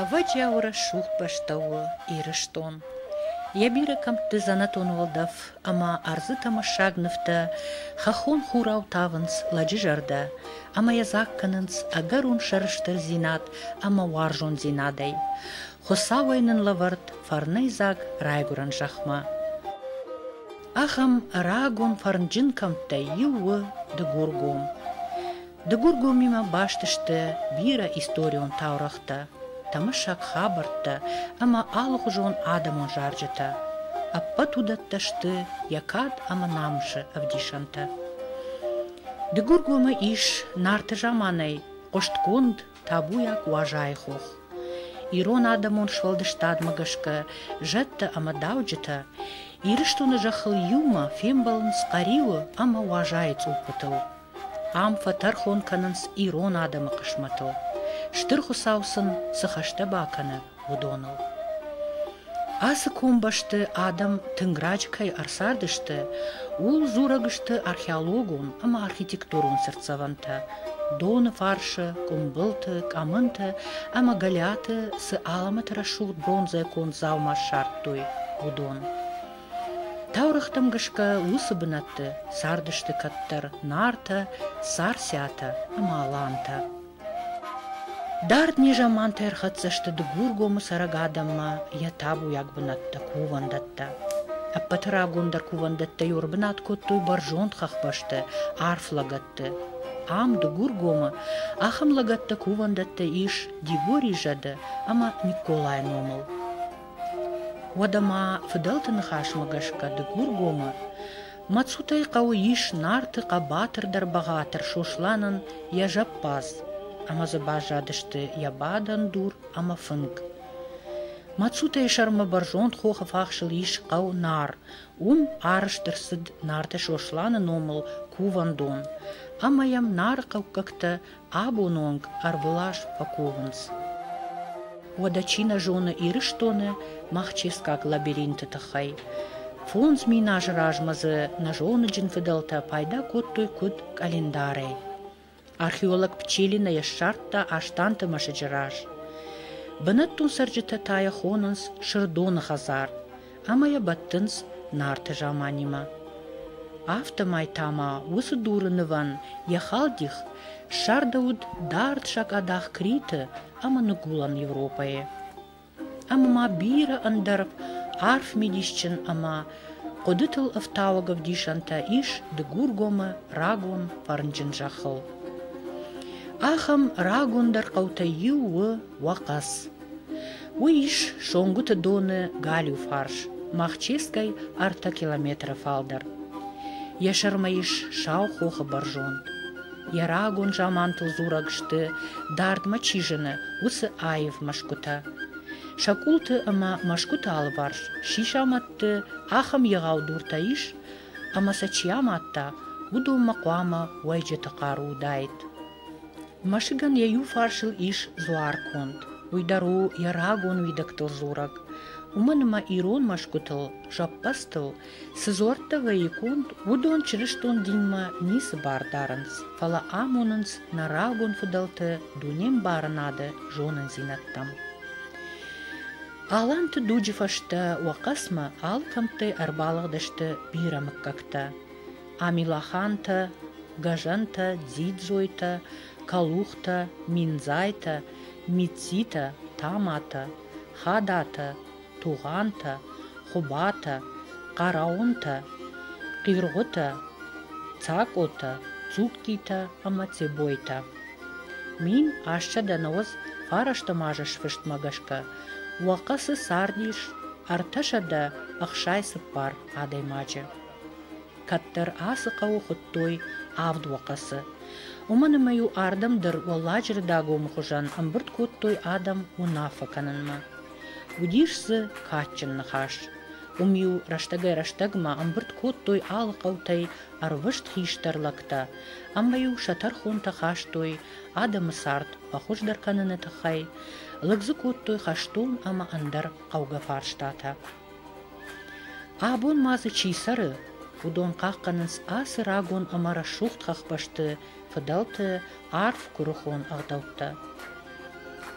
Ӕвӕджиауы рӕсугъд бӕстӕ у Ирыстон. Йӕ бирӕ кӕмтты дзӕнӕтон уӕлдӕф ӕмӕ ӕрдзы тӕмӕссаг нывтӕ хӕххон хурау тавынц лӕджы зӕрдӕ ӕмӕ йӕ дзаг кӕнынц ӕгӕрон сӕрыстырдзинад ӕмӕ уарзондзинадӕй. Хуыцауӕй нын лӕвӕрд фӕрнӕй дзаг райгуырӕн зӕхмӕ. Ахӕм рагон фӕрнджын кӕмттӕй иу у Дыгургом. Дыгургомимӕ баст сты бирӕ историон таурӕгътӕ, тӕмысӕг хабӕрттӕ ӕмӕ алыгъуызон адӕмон зарджытӕ. Ӕппӕт уыдӕттӕ сты йӕ кад ӕмӕ намысы ӕвдисӕнтӕ. Дыгургомы ис Нарты заманӕй хъуыстгонд табуйаг Уазайы хох. Ирон адӕмон сфӕлдыстадмӕ гӕсгӕ зӕдтӕ ӕмӕ дауджытӕ Ирыстоны зӕххыл иумӕ фембӕлынц Хъӕриуы ӕмӕ Уазайы цъуппытыл. Ам фӕтӕрхон кӕнынц ирон адӕмы хъысмӕтыл, Стыр Хуыцау сын цы хӕстӕ бакӕны, уыдоныл. Ацы комбӕсты адӕм тынг раджы кӕй ӕрцардысты, ууыл дзурӕг сты археологон ӕмӕ архитектурон цыртдзӕвӕнтӕ, доны фарсы, къуымбылты, къӕмынты ӕмӕ Гӕлиаты цы алӕмӕты рӕсугъд бронзӕ конд дзаума ссардтой, уыдон. Таурӕгътӕм гӕсгӕ уыцы бынӕтты цардысты кӕддӕр Нартӕ, Царциатӕ ӕмӕ Алантӕ. Дард незамантӕ ӕрхӕццӕ сты Дыгургомы цӕрӕг адӕммӕ йӕ табуйаг бынӕттӕ, кувӕндӕттӕ. Ӕппӕты рагондӕр кувӕндӕттӕ иуӕр бынат кодтой бӕрзонд хӕхбӕсты, арф лӕгӕтты. Ам, Дыгургомы, ахӕм лӕгӕттӕ кувӕндӕттӕ ис Дигори зӕды ӕмӕ Никколайы номыл. Уӕдӕ ма фыдӕлты ныхасмӕ гӕсгӕ Дыгургомы Мӕцутӕй хъӕуы ис Нарты хъӕбатыр дӕр бӕгъатыр Сосланӕн йӕ зӕппадз, ӕмӕ дзы баззадысты йӕ бадӕн дур ӕмӕ фынг. Мӕцутӕйы сӕрмӕ бӕрзонд хохы фахсыл ис хъӕу Нар. Уым арӕзт ӕрцыд Нарты Сосланы номыл кувӕндон, ӕмӕ йӕм нарыхъӕуккӕгтӕ Абоны онг ӕрвылаз фӕкувынц. Уӕдӕ чи нӕ зоны Ирыстоны махческаг лабиринты тыххӕй? Фондз мин азы размӕ дзы нӕзоныджын фыдӕлтӕ пайда кодтой куыд къӕлиндарӕй. Археолог Пчелина йӕ ссардта Астанты мӕсыджы раз. Бынӕттон цӕрджытӕ та йӕ хонынц Сырдоны хӕдзар. ӕмӕ йӕ бӕттынц Нарты заманимӕ. Афтӕмӕй та ма уыцы дуры нывӕн йӕ халдих ссардӕуыд дард сакъадах Криты ӕмӕ Ныгуылӕн Европӕйы. Ӕмӕ ма бирӕ ӕндӕр арф мидисджын ӕмӕ хъуыдытыл ӕфтауӕг ӕвдисӕнтӕ ис Дыгургомы рагон фӕрнджын зӕххыл. Ахӕм рагондӕр хъӕутӕй иу у Уахъӕц. Уый ис Сонгуыты доны галиу фарс, Махческӕй ӕртӕ километры фалдӕр. Йӕ сӕрмӕ ис сау хохы бӕрзонд. Йӕ рагон замантыл дзурӕг сты, дардмӕ чи зыны, уыцы аив мӕсгуытӕ. Сӕ къулты ӕмӕ мӕсгуыты алыварс чи самадты, ахӕм егъау дуртӕ ис, ӕмӕ сӕ чи амадта, уыдонмӕ хъуамӕ уӕйджыты хъару уыдаид. Мӕсыгӕн йӕ иу фарсыл ис дзуарконд, уый дӕр у йӕ рагон уидӕгтыл дзурӕг. Уымӕн ӕмӕ ирон мӕсгуытыл, зӕппӕдзтыл цы дзуӕрттӕ вӕййы конд, уыдон чырыстон динмӕ ницы бар дарынц, фӕлӕ амонынц нӕ рагон фыдӕлты дунембарынады зонындзинӕдтӕм. Аланты дуджы фӕстӕ уӕ хъӕцмӕ алы кӕмттӕй ӕрбалыгъдысты бирӕ мыггӕгтӕ. Амилахантӕ, Гӕзӕнтӕ, Дзидзойтӕ, Калухтӕ, Миндзайтӕ, Митцитӕ, Таматӕ, Хадатӕ, Тугъантӕ, Хъубатӕ, Хъараунтӕ, Хъиргъутӕ, Цакъотӕ, Цугтитӕ ӕма Цебойтӕ. Мин ассӕдӕнӕуӕдз фарӕсты мазы сфыстмӕ гӕсгӕ уӕ хъӕцы цард ис ӕртӕсӕдӕ ӕхсай цыппар адӕймаджы. Кӕддӕр ацы хъӕуы хуыдтой Авд Уӕхъӕцы. Уымӕн ӕмӕ-иу ардӕм дӕр Уӕлладжыры Дагомы хуызӕн ӕмбырд кодтой адӕм уынаффӕ кӕнынмӕ. Уыдис дзы кадджын ныхас. Уым-иу рӕстӕгӕй-рӕстӕгмӕ ӕмбырд кодтой алы хъӕутӕй ӕрвыст хистӕр лӕгтӕ, ӕмӕ-иу сӕ тӕрхонтӕ хастой адӕмы цард фӕхуыздӕр кӕныны тыххӕй, лыг дзы кодтой хӕстон ӕмӕ ӕндӕр хъӕугӕ фарстатӕ. Абон ма дзы чи цӕры, уыдон хъахъхъӕнынц ацы рагон ӕмӕ рӕсугъд хӕхбӕсты фыдӕлты арф куырыхон ӕгъдӕуттӕ.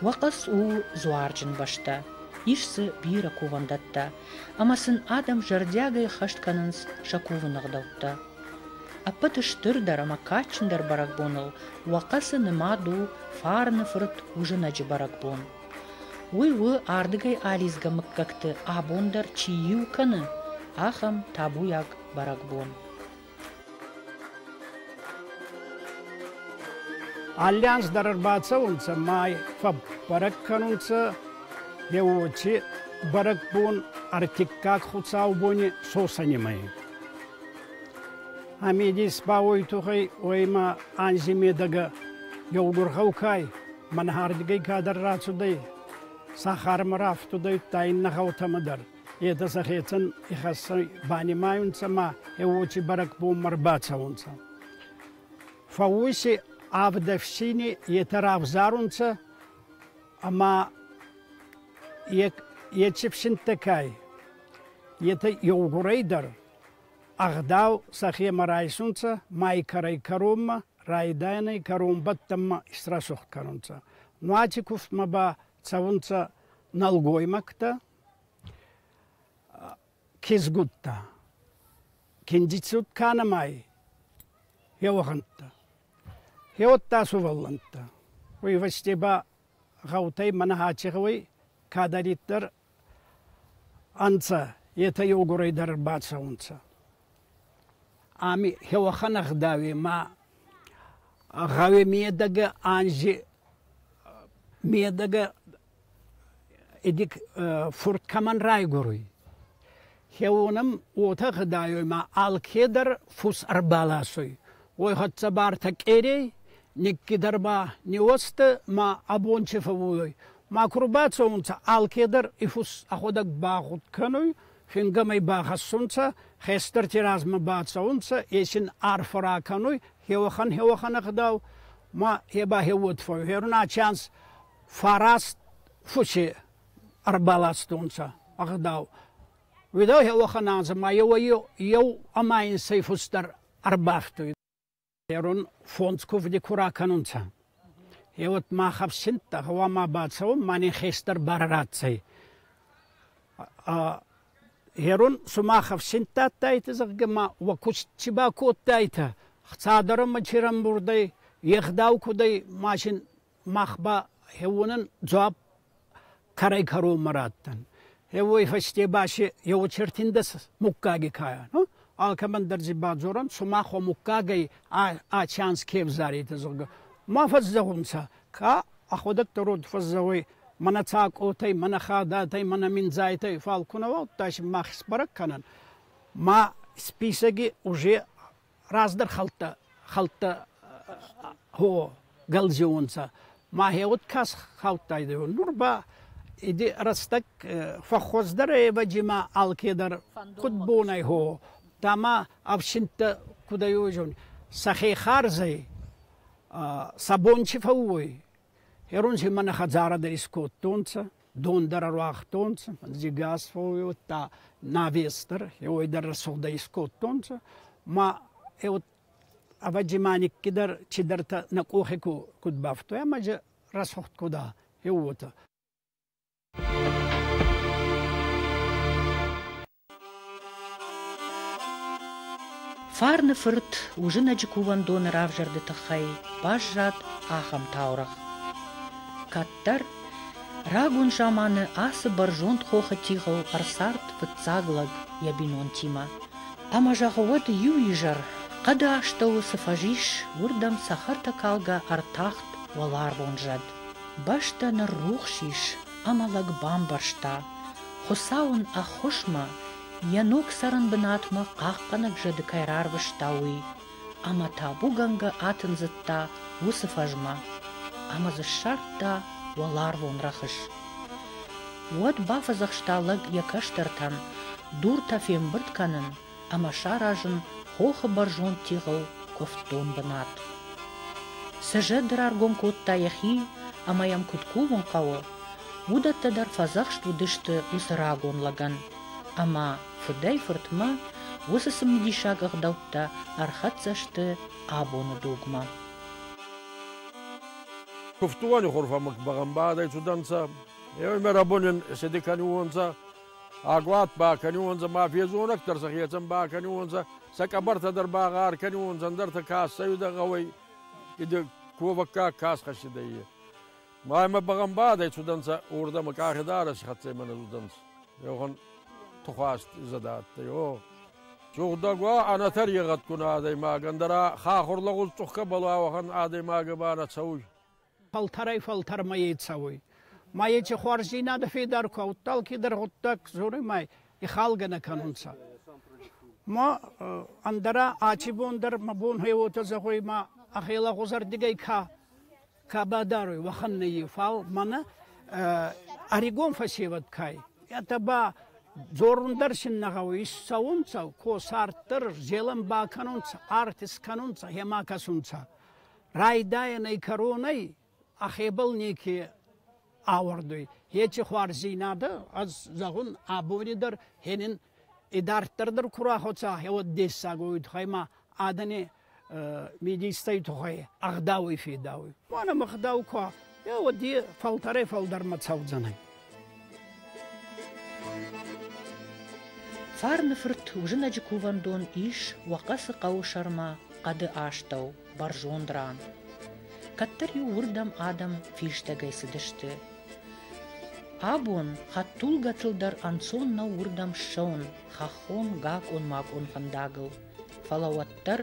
Уӕхъӕц у дзуарджын бӕстӕ, ис дзы бирӕ кувӕндӕттӕ, ӕмӕ сын адӕм зӕрдиагӕй хӕст кӕнынц сӕ кувыны ӕгъдӕуттӕ. Ӕппӕты стырдӕр ӕмӕ кадджындӕр бӕрӕгбоныл Уӕхъӕцы нымад у Фарны фырт Уызынӕджы бӕрӕгбон. Уый у, ардыгӕй алидзгӕ мыггӕгты абон дӕр чи иу кӕны, ахӕм табуйаг бӕрӕгбон. Аллианс дӕр ӕрбацӕунцӕ май фӕббӕрӕг кӕнунцӕ еуоти бӕрӕгбон ӕртиккаг хуцаубони сосӕнимӕ. Ами дис ба уой тухӕй уоймӕ анзи медӕгӕ еугур гъӕукай Мӕнхӕрдгӕй кадӕр рацудӕй, сахармӕ рафтудӕйттӕ иннӕ гъӕутӕмӕ дӕр. Етӕ сӕхецӕн ихӕссӕй банимайунцӕ ма е уочи бӕрӕгбонмӕ рбацӕунцӕ. Фӕууси авд ӕфсини етӕ равзарунцӕ ӕма ечи фсинттӕ кӕй, етӕ еугурӕй дӕр Ӕгъдау сӕхемӕ райсунцӕ май кӕрӕй кӕронмӕ, райдайӕнӕй кӕронбӕттӕнмӕ исрӕсугъд кӕнунцӕ. Нуати кувдмӕ ба цӕунцӕ нӕлгоймӕгтӕ, кизгуттӕ. Киндицуд кӕнӕмӕй еугъӕнттӕ. Еудта сувӕллӕнттӕ. Уой фӕсте ба гъӕутӕй мӕнӕ аци гъӕуй кӕдӕриддӕр ӕнцӕ, етӕ еугурӕй дӕр бацӕунцӕ. Ами хеуӕхӕн ӕгъдауи ма гъӕуи медӕгӕ анзи медӕгӕ иди фурт кӕмӕн райгуруй. Кеунӕм уотӕ гъудайуй ма алкедӕр фус ӕрбаласуй. Уой хӕццӕ бартӕ къерей никкидӕр ба ниуӕзтӕ ма ӕ бончи фӕууй. Ма ку рбацӕунцӕ, алкедӕр и фус ӕхуӕдӕг багъуд кӕнуй, фингӕмӕй бахӕссунцӕ, хестӕрти размӕ бацӕунцӕ, е син арфӕ ракӕнуй хеуӕхӕн хеуӕхӕн гъдау, ма е ба хеуод фӕууй. Гъеруна чанс фараст фуси ӕрбаластонцӕ ӕгъдау. Уӕдӕ уӕхӕн анзӕ ма еу ӕма инсӕй фустӕр ӕрбахтуй. Ерун фондз кувди ку ракӕнунцӕ. Е уӕд мах ӕфсинттӕ гъӕуама бацӕуӕн ма нин хестӕр барӕ ратдзӕй. Ерун сумах ӕфсинттӕ адтайтӕ, зӕгъгӕ, ма уӕ куст ци бакодтайтӕ? Цадӕрӕ ма чи рамбурдӕй, е гъдау куд ӕй, ма син Мах ба хеуонӕн дзуапп кӕрӕй-кӕронмӕ радтан. Еуей фӕсте ба си еуочертиндӕ муггаги кайан. Алкӕмӕн дӕр дзы бадзоран, сумах уӕ муггагӕй ӕ чанс ке взаритӕ, зӕгъгӕ. Ма фӕззӕгъунцӕ, ка ӕходӕдтӕ род фӕззӕгъуй мӕнӕ цакъотӕй, мӕнӕ хадатӕй, мӕнӕ миндзайтӕй, фал ку нӕ уа, удта си мах исбӕрӕг кӕнӕн. Ма списоги уже раздӕр хӕлттӕ хӕлттӕ хо гӕлдзиуонцӕ мӕхе уод ка схаудтайдӕ, нур ба иди рӕстӕг фӕххуӕздӕр ӕвӕджи ма алкедӕр куд бонӕй хо, дама ӕфсинттӕ куд ӕй уодзӕн, сӕхе харзӕй сӕ бон чи фӕууй, Херонси мӕнӕ хӕдзарӕ дӕр искодтонцӕ, дон дӕр ӕруагътонцӕ, дзигас фӕууодта, навестӕр, е уой дӕр рӕсугъдӕй искодтонцӕ. Ма е вот ӕвӕдзи ма никки дӕр чидӕртӕ нӕ къохи ку, куд бафтуй, ӕма ӕй рӕсугъд куда, е уотӕ. Фарны фырт уызынӕджы кувӕндоны равзӕрды тыххӕй баззад ахӕм таурӕгъ. Кӕддӕр рагон заманы ацы бӕрзонд хохы тигъыл ӕрцард фыццаг лӕг йӕ бинонтимӕ. Ӕмӕ зӕгъы уӕд иу изӕр хъӕды астӕуы цы фӕзис, уырдӕм цӕхӕртӕкалгӕ ӕртахт уӕларвон зӕд. Бӕстӕ ныррухс ис ӕмӕ лӕг бамбӕрста, Хуыцау ын ӕххуысмӕ, йӕ ног цӕрӕн бынатмӕ хъахъхъӕнӕг зӕды кӕй рарвыста, уый, ӕмӕ табугӕнгӕ атындзыдта уыцы фӕзмӕ ӕмӕ дзы ссардта уӕларвон рӕхыс. Уӕд бафӕдзӕхста лӕг йӕ кӕстӕртӕн дуртӕ фембырд кӕнын ӕмӕ саразын хохы бӕрзонд тигъыл куывддон бынат. Сызӕд раргом кодта йӕхи ӕмӕ йӕм куыд кувын хъӕуы, уыдӕттӕ дӕр фӕдзӕхст уыдысты уыцы рагон лӕгӕн, ӕмӕ фыдӕй-фыртмӕ уыцы цымыдисаг ӕгъдӕуттӕ ӕрхӕццӕ сты абоны дугмӕ. Кувтуони хурфӕмук бӕгъӕмбадӕй цудӕнцӕ, еуемӕ рабонӕн седе кӕнуонцӕ, Агуат бакӕниуонцӕ ма фезонӕгтӕр сӕ хецӕн бакӕниуонцӕ, сӕ къӕбӕртӕ дӕр ба гъӕр кӕниуонцӕ, ӕндӕртӕ ка ӕссӕйидӕ гъӕуӕй, идӕ ковӕггаг ка схӕссидӕй, е. Ма имӕ бӕгъӕмбадӕй цудӕнцӕ, уордӕмӕ къахи дарӕси хӕццӕй мӕнӕ цудӕнцӕ. Еугъон тухуаст зӕдӕ адтӕй, о! Сугъдӕг уа, ӕнӕтӕрегъӕдгун адӕймаг, ӕндӕра хахур лӕгъуз цъухкӕбӕл уа, уӕхӕн адӕймагӕ ба нӕ цӕуй. фӕлтӕрӕй-фӕлтӕрмӕ е цӕуй. Ма еци хуарздзийнадӕ федар ку адтӕй, алкедӕр гъуддаг дзоруй ма ихалгӕ нӕ кӕнунцӕ. Ма ӕндӕра аци бон дӕр мӕ бонхе уотӕ зӕгъуй, ма ӕхе лӕгъузӕрдигӕй ка ка бадаруй, уӕхӕн нӕййи. Фал мӕнӕ ӕригон фӕсевӕд кӕй. Етӕ ба дзорун дӕр син нӕ гъӕуй. Исцӕунцӕ, ко царддӕр, зелӕн бакӕнунцӕ, арт искӕнунцӕ, хема кӕсунцӕ. райдайӕнӕй кӕронӕй ӕхебӕл неке ауӕрдуй. Ечи хуарздзийнадӕ, ӕз зӕгъун, абони дӕр хенин идарддӕр дӕр ку рахуца, еуӕд дессагой туххӕй ма адӕни э, мидистӕй туххӕй ӕгъдауи федауй. Бон ӕм ӕгъдау ку Е уоди фӕлтӕрӕй-фӕлдӕрмӕ цӕудзӕнӕй. Фарны-фырт Узынӕджы кувӕндон ис Уӕхъӕцы хъӕуы сӕрмӕ хъӕды астӕу, бӕрзонд ран. Кӕддӕр-иу уырдӕм адӕм фистӕгӕй цыдысты. Абон хӕдтулгӕтыл дӕр ӕнцон нӕу уырдӕм ссӕуын хӕххон гакъон-макъон фӕндагыл. Фӕлӕ уӕддӕр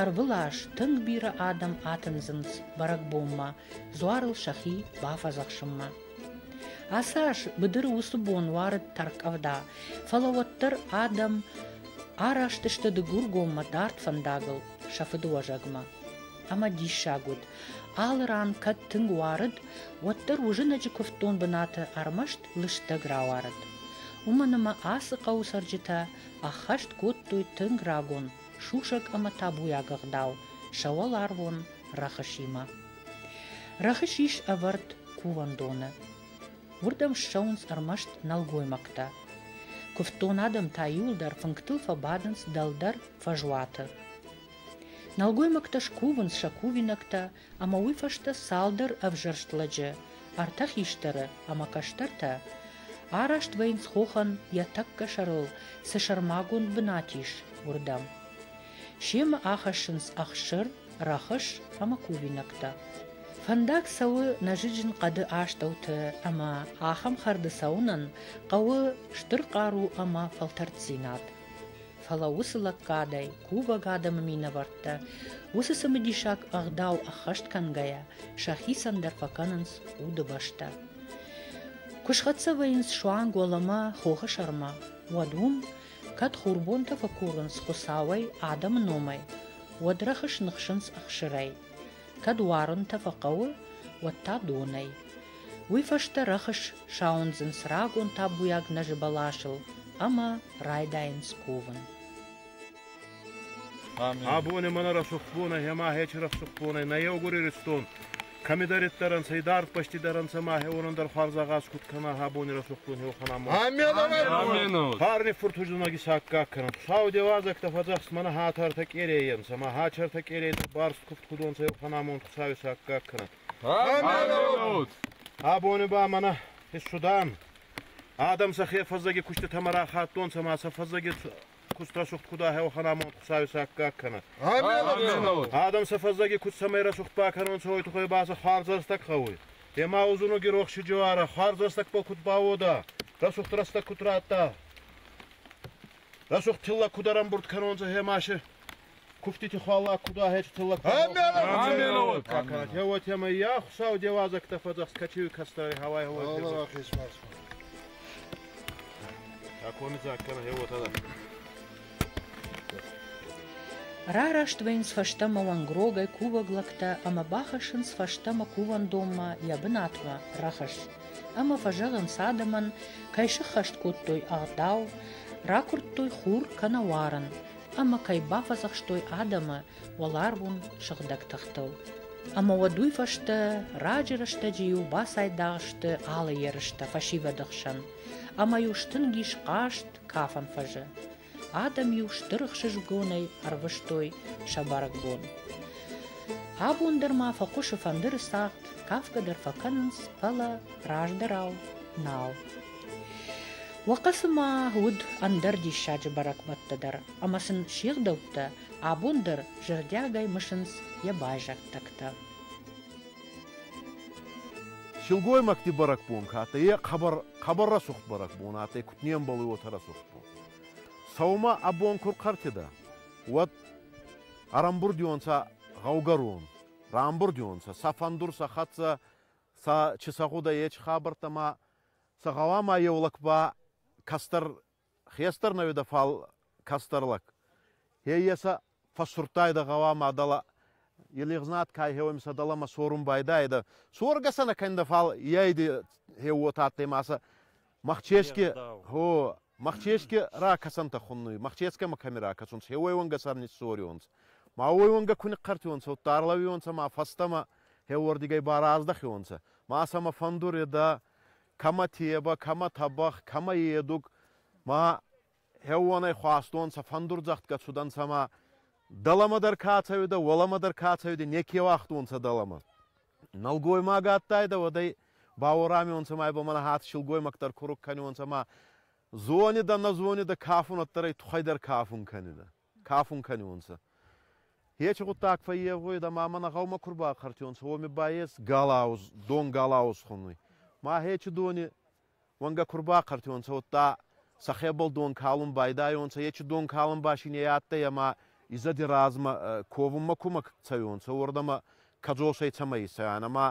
ӕрвылаз тынг бирӕ адӕм атындзынц бӕрӕгбонмӕ дзуарыл сӕхи бафӕдзӕхсынмӕ. Ацы аз быдыры уыцы бон уарыд тӕрккъӕвда, фӕлӕ уӕддӕр адӕм араст сты Дыгургоммӕ дард фӕндагыл сӕ фыдыуӕзӕгмӕ. Ӕмӕ диссаг уыд, алы ран кӕд тынг уарыд, уӕддӕр уызӕнӕджы куывддон бынаты ӕрмӕст лыстӕг рауарыд. Уымӕн ӕмӕ ацы хъӕуы цӕрджытӕ Ӕххӕст кодтой тынг рагон, сусӕг ӕмӕ табуйаг ӕгъдау сӕ уӕларвон рӕхысимӕ. Рӕхыс ис ӕвӕрд кувӕндоны. Уырдӕм ссӕуынц ӕрмӕст нӕлгоймӕгтӕ. Куывддон адӕм та иуылдӕр фынгтыл фӕбадынц дӕлдӕр фӕзуаты. Нӕлгоймӕгтӕ скувынц сӕ кувинӕгтӕ ӕмӕ уый фӕстӕ цалдӕр ӕвзӕрст лӕджы, ӕртӕ хистӕры ӕмӕ кӕстӕртӕ, араст вӕййынц хохӕн йӕ тӕккӕ сӕрыл цы сӕрмагонд бынат ис, уырдӕм. Семӕ ахӕссынц ӕхсыр, рӕхыс ӕмӕ кувинӕгтӕ. Фӕндаг цӕуы нӕзыджын хъӕды астӕуты ӕмӕ ахӕм хӕрды цӕуынӕн хъӕуы стыр хъару ӕмӕ фӕлтӕрддзинад. фӕлӕ уыцы лӕггадӕй кувӕг адӕмы минӕвӕрттӕ, уыцы цымыдисаг ӕгъдау ӕххӕст кӕнгӕйӕ, сӕхицӕн дӕр фӕкӕнынц удыбӕстӕ. Куы схӕццӕ вӕййынц суанг уӕлӕмӕ хохы сӕрмӕ, уӕд уым, кӕд хурбонтӕ фӕкурынц Хуыцауӕй адӕмы номӕй, уӕд рӕхыс ныхсынц ӕхсырӕй, кӕд уарынтӕ фӕхъӕуы, уӕд та донӕй. Уый фӕстӕ рӕхыс сауындзынц рагон табуйаг нӕзы бӕласыл ӕмӕ райдайынц ковын. Абони мӕнӕ рӕсугъдбонӕй ӕма хечи рӕсугъдбонӕй нӕ еугур Иристон кӕмидӕриддӕр ӕнцӕ, идардпӕстидӕр ӕнцӕ ма уонӕн хуарза гъаз куд кӕна абони рӕсугъдбон еуӕхӕнӕн. Амменут! Парни фуртуздзунаги саккаг кӕнун. Хуцау деуадзӕгтӕ фӕдзӕхст мӕнӕ хатӕртӕ къерейӕ нцӕ, ма хатӕртӕ къерейитӕ барст кувд кудонцӕ еуӕхӕнамонд Хуцауи саккаг кӕнӕн. Абони ба мӕнӕ фӕссудан. Адӕм сӕхе фӕззӕги куститӕмӕ рахаттонцӕ ма сӕ фӕззӕги кустрӕсугт куд ахеуӕхӕн амонд Хуцауи саккаг кӕнӕ. Адӕм сӕ фӕззӕги куст цӕмӕй рӕсугъд бакӕнонцӕ, уой туххӕй ба сӕ хуӕрзӕрстӕг гъӕуй. Ема узунуги рохси джоара хуӕрзӕрстӕгбӕл куд бауодӕ, рӕсугъд рӕстӕг куд радта, рӕсугъд тилла куд ӕрӕмбурд кӕнонцӕ ӕ маши, Куфтити хуӕллаг куд ахецӕтӕ лӕггадӕ ка кӕнӕд, е уотемӕй ӕ Хуцау де уазӕгтӕ фӕдзӕхст качеуи кӕстӕри гьӕуай гьӕуай бедзӕ. Такони дзаг кӕнӕ гьеуотӕ дӕр. Рараст вӕйнс фӕстӕмӕ уӕнгрогӕй кувӕг лӕгтӕ ӕмӕ бахӕссынц фӕстӕмӕ кувӕндонмӕ йӕ бынатмӕ рахӕсс. Ӕмӕ фӕзӕгъынц адӕмӕн, кӕй сыххӕст кодтой ӕгъдау, ракуырдтой хур кӕнӕ уарын, ӕмӕ кӕй бафӕдзӕхстой адӕмы уӕларвон сыгъдӕг тыхтыл. Ӕмӕ уӕд уый фӕстӕ раджы рӕстӕджы-иу бацайдагъ сты алы ерыстӕ фӕсивӕды хсӕн, ӕмӕ-иу стынг ис хъазт кафӕн фӕзы. Адӕм-иу стыр ӕхсызгонӕй ӕрвыстой сӕ бӕрӕгбон. Абон дӕр ма фӕхъуысы фӕндыры цагъд, кафгӕ дӕр фӕкӕнынц, фӕлӕ раздӕрау нал. Уӕхъӕцы ма уыд ӕндӕр диссаджы бӕрӕгбӕттӕ дӕр, ӕмӕ сын се гъдӕуттӕ абон дӕр зӕрдиагӕй мысынц йӕ байзӕддӕгтӕ. Силгоймӕгти бӕрӕгбон ка адтӕй, е хъӕбӕр рӕсугъд бӕрӕгбон адтӕй, куд не мбӕлуй уотӕ рӕсугъд бон. Сӕумӕ ӕ бон ку рхъӕртедӕ, уӕд ӕрӕмбурдионцӕ гъӕугӕрон, рамбурдионцӕ, сӕ фӕндур, сӕ хӕццӕ, сӕ, чи сӕ гъудӕй, еци хабӕрттӕ ма Сӕ гъӕуама еу лӕг ба кӕстӕр хестӕр нӕ уидӕ, фал кӕстӕр лӕг. Хеййӕ сӕ фӕссурдтайдӕ гъӕуама дӕлӕ е лигъзнат ка хеуӕмисӕ дӕлӕмӕ сорун байдаидӕ. Соргӕ сӕ нӕ кӕндӕ, фал ейди хеу уотӕ адтӕй ма сӕ мӕхческе, хо, Мӕхческе ракӕсӕнтӕ хуннуй, мӕхческӕмӕ кӕми ракӕсун, се уӕйуӕнгӕ сӕр ниссориуонцӕ. Ма уӕйуӕнгӕ ку нихъхъӕртиуонцӕ, удта ӕрлӕуиуонцӕ ма фӕстӕмӕ хеуордигӕй ба раздӕхиуонцӕ. Ма сӕмӕ фӕндуредӕ, кӕмӕ тебӕ, кӕмӕ тӕбӕгъ, кӕмӕ едуг. Ма хеуонӕй хуастонцӕ, фӕндурдзӕгъдгӕ цудӕнцӕ ма дӕлӕмӕ дӕр ка цӕуидӕ, уӕлӕмӕ дӕр ка цӕуидӕ, неке уагътонцӕ дӕлӕмӕ. Нӕлгоймаг адтайдӕ, уӕдӕй бауорамионцӕ ма ба мӕнӕ хатт силгоймӕгтӕр куруг кӕнионцӕ ӕма зонидӕ, нӕ зонидӕ кафунӕддӕр ӕй туххӕй дӕр кафун кӕнидӕ, кафун кӕнионцӕ. Ечи гъуддаг фӕййевгъуйидӕ ма мӕнӕ гъӕумӕ ку рбахъӕртионцӕ, уоми ба ес галауз, дон галауз хунуй. Ма ечи дони уӕнгӕ ку рбахъӕртонцӕ, уӕдта сӕхебӕл дон калун байдайонцӕ, ечи дон калун ба синей адтӕй ӕма изӕди размӕ ковунмӕ кумӕ цӕйонцӕ, уордӕмӕ кӕдзосӕй цӕмӕ исайан. Ӕма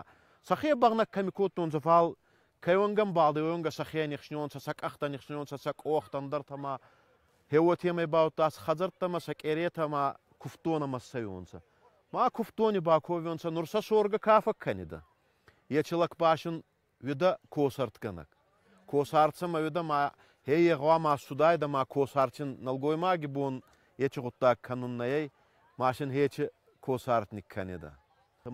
сӕхе бӕгънӕг кӕми кодтонцӕ, фал кайуангӕ мбалдӕй уӕнгӕ сӕхе нихснионцӕ, сӕ къӕхтӕ нихснионцӕ, сӕ къохтӕ ӕндӕртӕмӕ. Хеуотемӕй баудта сӕ хӕдзӕрттӕмӕ, сӕ къеретӕ ма кувддонӕмӕ ссӕйонцӕ. Ма кувддони баковионцӕ, нур сӕ соргӕ ка фӕккӕнидӕ? Ечи лӕг ба син Уӕдӕ косартгӕнӕг. Косарц ӕма уӕдӕ ма хе гъӕуама ссудайдӕ ма косарчин нӕлгоймаги бон ечи гъуддаг кӕнун нӕйӕй, ма син хечи косартник кӕнедӕ.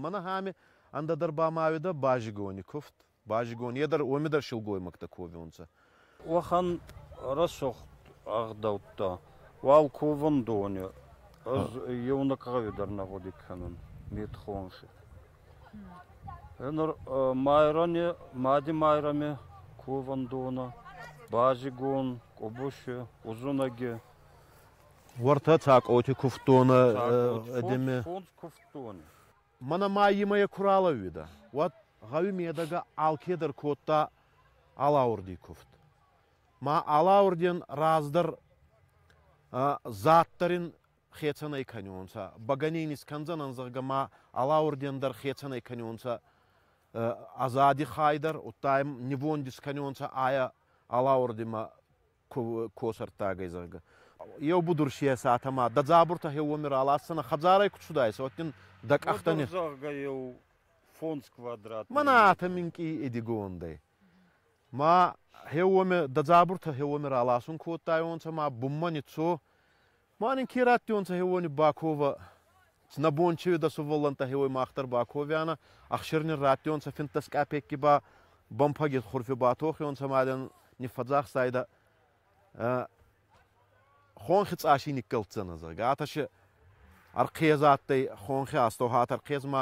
Мӕн ахӕми ӕндӕдӕр ба ма уӕдӕ базигони кувт. Базигон, е дӕр, уоми дӕр силгоймӕгтӕ ковунцӕ. Уӕхӕн рӕсугъд ӕгъдӕуттӕ уал ковӕндони ӕз еунӕг гъӕуи дӕр нӕ гъуди кӕнун, метхонхи. Нур Майрӕни, Мади Майрӕми ковӕндонӕ базигон, Къубуси, Узунӕги. Уортӕ Цакъоти кувдтонӕ Цакъот, эдеме... Фондз кувдтони. Мӕнӕ ма имӕ йе ку ралӕууидӕ, уӕд гъӕуи медӕгӕ алкедӕр кодта алаурди кувд. Ма алаурден раздӕр заддӕр ин хецӕнӕй кӕниуонцӕ, бӕгӕней искӕндзӕнӕн, зӕгъгӕ, ма алаурден дӕр хецӕнӕй кӕниуонцӕ ӕ зади хай дӕр, удта ӕм нивонд искӕниуонцӕ айӕ алаурдимӕ ко сӕрттагӕй, зӕгъгӕ. Еу будурсийӕ сӕтӕмӕ дӕ дзабуртӕ хеуоми раласдзӕнӕ, хӕдзарӕй куд цудаисӕ, уӕддин дӕ къӕхтӕни. Зӕгъгӕ еу фондз квадрат. Мӕнӕ атӕ минкъий идигондӕй. Ма хеуоми, дӕ дзабуртӕ хеуоми раласун кодтайонцӕ ма бунмӕ ниццо, Ма нин ке раттионцӕ хеуони баковӕ. Нӕ бон чи уидӕ сувӕллӕнттӕ хеуой мах дӕр баковианӕ, ӕхсир нин раттионцӕ финддӕс къапекки ба бӕмпӕги хурфи батохионцӕ ма дӕн ниффӕдзахстайдӕ. Хонхи цъаси никкӕлддзӕнӕ, зӕгъгӕ. Атӕ си ӕрхъез адтӕй, хонхи астӕу хатӕ ӕрхъез ма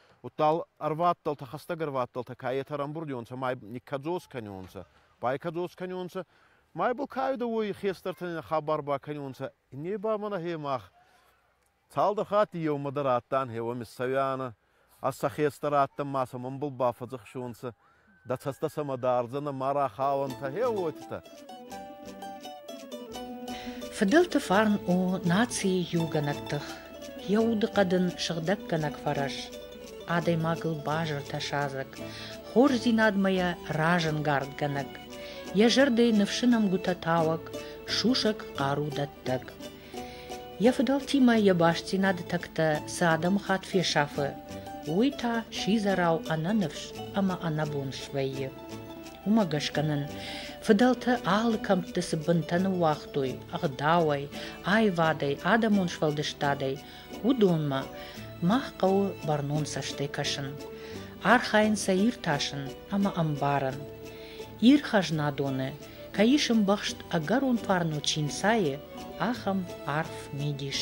удтал ӕрвадтӕлтӕ, хӕстӕг ӕрвадтӕлтӕ каетӕ рамбурдионцӕ ма никкӕдзос кӕнионцӕ, байкӕдзос кӕнионцӕ, ма бул кайдӕ уой хестӕртӕн хабар бакӕнионцӕ, не ба мӕнӕ хе мах цалдӕр хатти еумӕ дӕр адтан хеуӕми цӕуӕнӕ, ӕ сӕ хестӕр адтан ма сӕмӕн бул бафӕдзӕхсионцӕ, Дӕ цӕстӕ сӕмӕ дардзӕнӕ мӕрӕ хауӕнтӕ хеуотитӕ. Фыдӕлты фарн у нацийы иугӕнӕг тых, йӕ удыхъӕд ын сыгъдӕггӕнӕг фӕрӕз. Адӕймагыл базыртӕ садзӕг, хорздзинадмӕ йӕ разӕнгардгӕнӕг, йӕ зӕрдӕйы ныфсы нӕмгуытӕ тауӕг, сусӕг хъару дӕттӕг. Йӕ фыдӕлтимӕ йӕ бастдзинады тӕгтӕ цы адӕмыхатт фесафы, уый та сидзӕрау ӕнӕныфс ӕмӕ ӕнӕбон свӕййы. Уымӕ гӕсгӕ нын фыдӕлтӕ алы кӕмтты цы бынтӕ ныууагътой ӕгъдауӕй, аивадӕй, адӕмон сфӕлдыстадӕй, Уыдонмӕ мах хъӕуы бӕрнон цӕстӕй кӕсын, архайын сӕ иртасын ӕмӕ ӕмбарын, Ир хӕзнадоны кӕй ис ӕмбӕхст ӕгӕрон фарно чи нцайы, ахӕм арф мидис.